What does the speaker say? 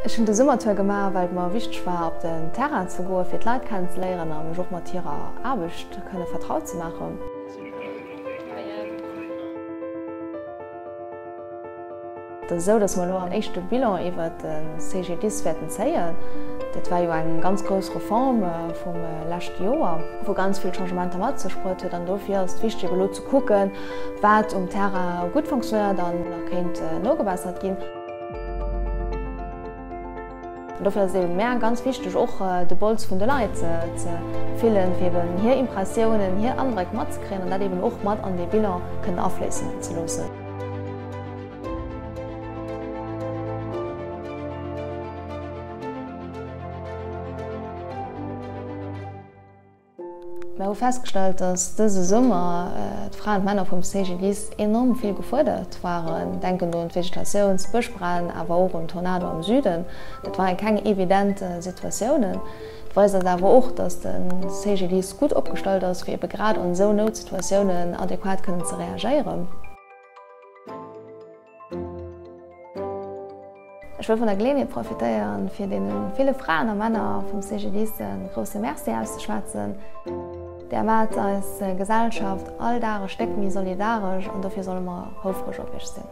Ech hunn de Summertour gemaach, well et mer wichteg war, op den Terrain ze goen, fir d'Leit kennenzeléieren a mech och mat hirer Aarbecht kënne vertraut ze maachen. Et ass esou, datt mer elo en éischte Bilan iwwert de CGDIS wäerten zéien. Dat war jo eng ganz grouss Reform vum leschte Joer, wou ganz vill Changementer mat sech bruet huet. An dofir ass et wichteg, elo Kucken, wat um Terrain gutt fonctionéiert an wou nach kéint nogebessert ginn. Dofir ass et mär ganz wichteg, och de Polz vun de Leit ze fillen, fir eben hir Impressiounen, hir Andréck matzekriegen an dat eben och mat an dee Bilan kënnen afléissen ze loossen. Mer hu festgestallt, dass dëse Summer d'Fraen an d'Männer vum CGDIS enorm vill gefuerdert waren. Denken do un d'Vegetatiouns-, Bëschbränn, awer och un den Tornado am Süden. Dat waren keng evident Situatiounen. Et weist eis awer och, dass de CGDIS gutt opgestallt ass, fir ebe grad an esou Noutsituatiounen adequat kënnen ze reagéieren. Ech wëll vun der Geleeënheet profitéieren, fir deene ville Fraen a Männer vum CGDIS e grousse Merci auszeschwätzen. Där maacht eis Gesellschaft all Dag e Stéck méi solidaresch an dofir solle mer houfreg op iech sinn.